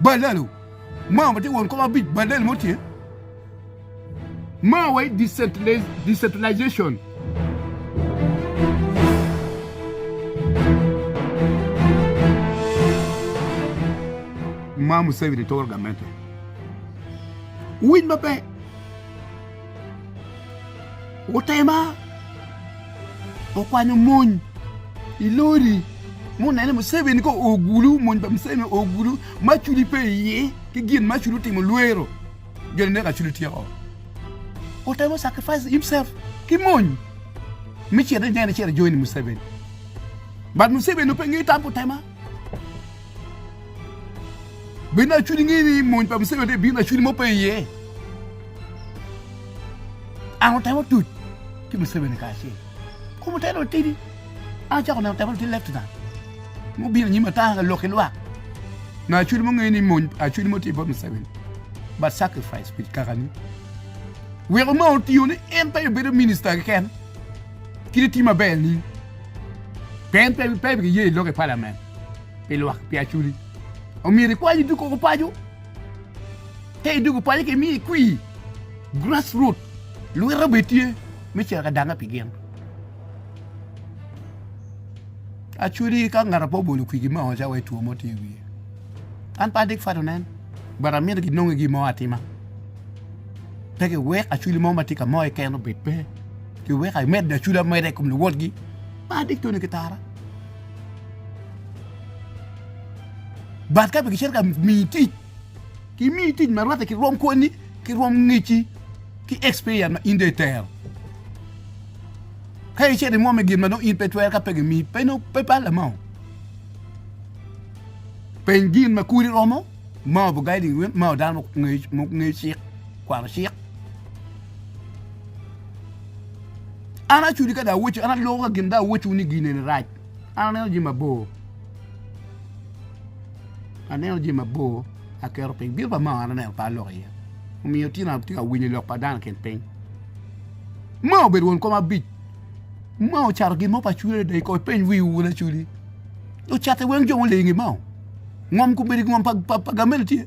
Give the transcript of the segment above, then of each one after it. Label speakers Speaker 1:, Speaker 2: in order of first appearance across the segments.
Speaker 1: Balalo, ma ma tye won kom abic balal mo tye ma wa i decentralization. Ma Museveni toro gamente. Winy maber. Otema, okwanyo mony i lori munene Museveni ka oo gulu, mony pa Museveni oo gulu ma Acoli pe iye ki gin ma Acoli otimo lwero jo ninek Acoli tye oo. Otemo sacrifice himself ki mony me cito ineno cito i join Museveni but Museveni nongo pe ngeyo tam pa Otema. Bino acudi ngi ni mony pa Museveni te bino acudi mo pe iye. An otemo tuc ki Museveni kacel. Kom oteno otidi. An acako neno otemo ti leftna. Mo bino nyim ata ka lok ki lwak. Na acudi mo ngi ni mony acudi mo ti pa Museveni. But sacrifice with kakani. Weko ma otiyo ni en pe obedo minister ki ken. Kit iti maber ni peny pe pe giye i lok i palamen pi lwak pi aculi. Omyero ikwany idug koko paco. Ka idug paco ki miyo ikwi grassroot lwita be tye me cito ka dange pi gin. Aculi ka ngata pe obolo kwigi me oca wa two mo tye i wiye. An pe adik fat onen but amyero ginongi gi mo atima. Pe giwek aculi mo ma tye ka moyo keken obed pe. Pi weka imed aculu ameda i kom luwotgi, par tic toni ki tara. Bat ka pe kicito ka miyi tic, kimiyi tic ma rwatte ki rwom kwoni, ki rwom ngecci, ki experience ma in dong itero. Ka icito imwom i gin ma dong in pe itwero ka pe gimiyi, pe no pe palle mo. Peny gin ma kuri romo, ma obu guiding win, ma dano muknge cik. kwano cik. An acudi ka da aweco, an aloko ka gin da aweco ni gin eni rac. An aneno jami mabor. Aneno jami mabor aketo piny. Bino pa mao an aneno pe aloko iye. Omiyo tye na tye ka winyo lok pa dano kin piny. Mao obedo won kom abic. Mao ocato gin mo pa cudi adada i kor peny wiwu wun acudi. Ocatte weng jo mulingi mao. Ngom kubedo ngom pa, pa, pa gamel tye.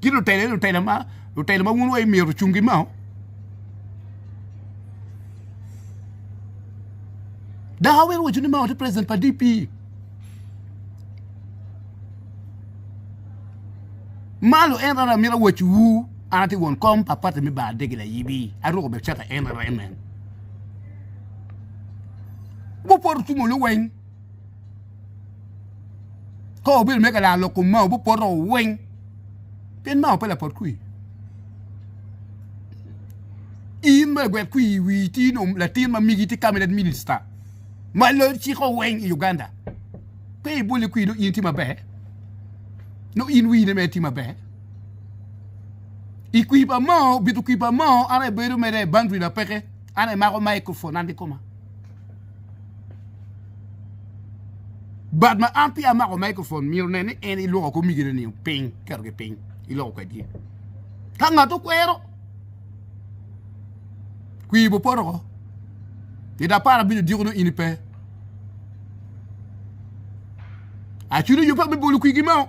Speaker 1: ki lutela lutela ma lutela ma wun wa imyero ocung gi mao dok awero waco ni mao te president pa DP malo en rara mira waco wu an ati won kom pa pati mi ba adegi la yibi aruko be cata en rara en nen wupoto tumo luweng Ka obedo me ka laro lok Kumau bipoto weng pien Mao pe lapot kwir. In ma lagwet kwir i wii tye nongo latin ma migi tye cabinet minister ma loyo ciko weng i Uganda pe ibole kwir nongo in tye maber nongo in wii ne mere tye maber. I kwir pa Mao bito kwir pa Mao an aye abedo mere boundary na peke an aye amako microphone an kikoma. But ma an peya amako microphone myero nen ni en iloko komigine ni piny keto gi piny iloko kwedgi ka ngat okwero kwi bo poto ko ni da para bino diko no ini pe achuni yo pa me bolo kwigi mao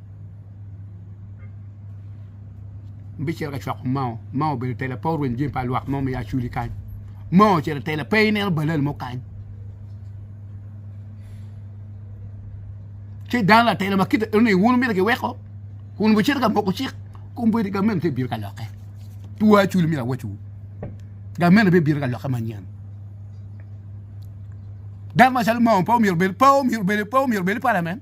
Speaker 1: bicito ka cwako mao mao obedo tela pe orweny jami pa lwak mo ma ya culi kany mao ocito tela pe ineno balal mo kany ci dano latela ma kite ni wun mito giweko kun wucito ka moko cik kun bedi gamen te biro ka lokke tuwa culi mito awaciwu gamen be biro ka lokke manyen dano macalo mao pe omyero bed pe omyero bed pe omyero bed i parliament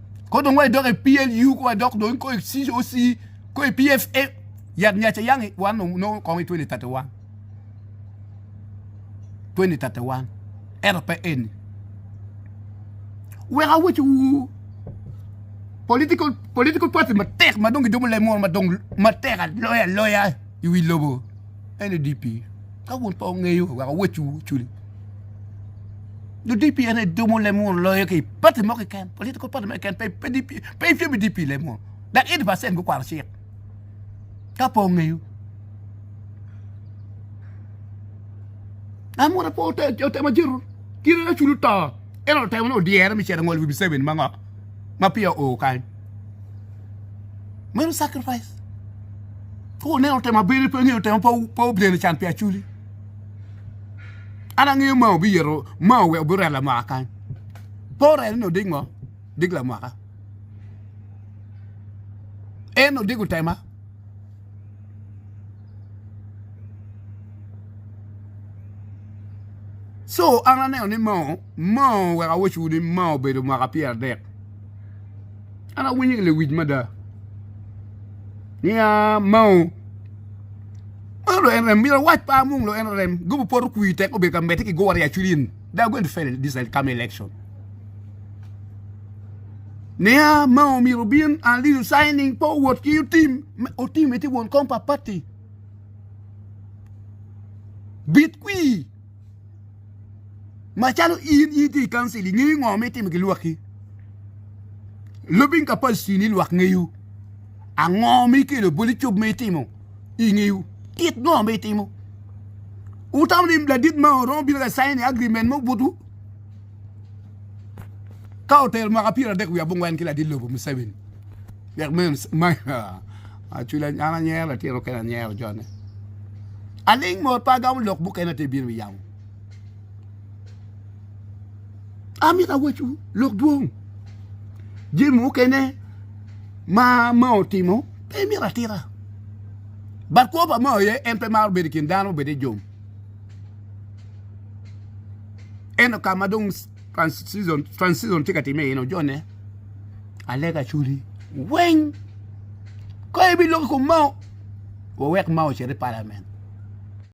Speaker 1: Ko dong wa idok i PLU, ko wa idok dong ko i COC, ko i PFA, yat nya ca yangi wan nongo kong i 2031. 2031. Ero pe eni. Wek awec wu political political party matek ma dong gidomo lem moro ma dong matek aloya aloya i wi lobo NDP. Ka wun pa ongeyo wek awec wu culi. Nyo DP en aye dumo leb muno loyo ki pati mo keken. Political party mo keken pe pe DP pe ifyo bi DP leb muno. Dak 80% gukwaro cik. Ka po ngeyo. Amura po otemo jito kiri na chulu to. En otemo no dyere mi cero ngol wi Museveni mangok. Ma pia o kany. Meno sacrifice. Ko ne otemo bini pe ngeyo otemo po po bini can pia chuli. an angeyo ma obiyero ma oweko biret lamwaka kany pe orene ni odik ngo odik lamwaka en odiko tema co an aneno ni moo oweko awaco ni moo obedo mwaka pyera dek. an awinyo ki lewic mada niya mao mao dong en rem myero awac pe amung dong en rem gubu poto kwir tek obedo ka medde ki gore acwiny in they are going to fail this come election niya mao myero obin and lead in signing pe owot ki otim otim ite won kom pa party bit kwir Macalo in in ti i kancil ingeyo ngo ma itimo ki lwakki lubing capacity ni lwak ngeyo ango ma ikelo boli cob ma itimo ingeyo kit ngo ma itimo utam ni ladit ma oromo bino ka cain agrimen mo butu ka otelo mwaka pyera dek wiye abongwen ki ladit lobo museveni dek meno Acwila an anyero latin mukene anyero jone. Aling mot pa agamo lok mukene te bino yam. Amina wacu lok dwong. Jim mukene ma ma otimo pe mira atira. Bat kwo pa ma oye en pe maro bedo kin dano obede jom. Eno ka ma dong Transizon tye ka timme iye ni ojone alega cwuli weng ka ibiloko i kom mao wawek mao ocit i palament.